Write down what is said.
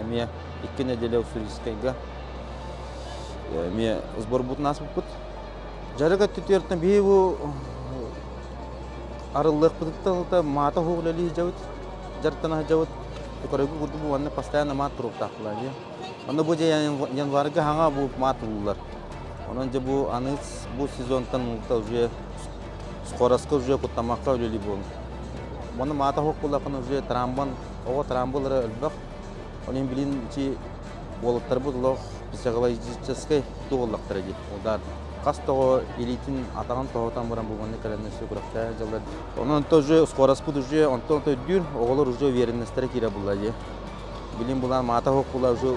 эмиэ икки нэдиэлэ Уссурийскайга эмиэ сборбутун ааспыппыт. Жарык өттүтүөртэн биһи бу арыллыахпытыттан маата уһук үлэлии сылдьабыт, дьарыктана сылдьабыт. Көрөргө курдук бу маннык постоянно маат туруктаахтылар ди. Онно бу дьэ январга саҥа бу маат ууллар. Онон дьэ бу аны бу сезонтан уута уже скоростка уже куттамакка үлэлии буолун. Мону маата уһук буллахын уже трамбан Оҕо трамбылара өлбөх. Онон билин ити уолуттарбыт олох психологическай туоллахтара дии. Удар хас тоҕо илиитин атаҕын тоһутан баран бу маннык кэлэннэсти күрэхтээ дьалар. Онон тоже скороспут уже онтон өйдүүр оҕолор уже уверенностьтара киирэ булла дии. Билин булан маата хоккула уже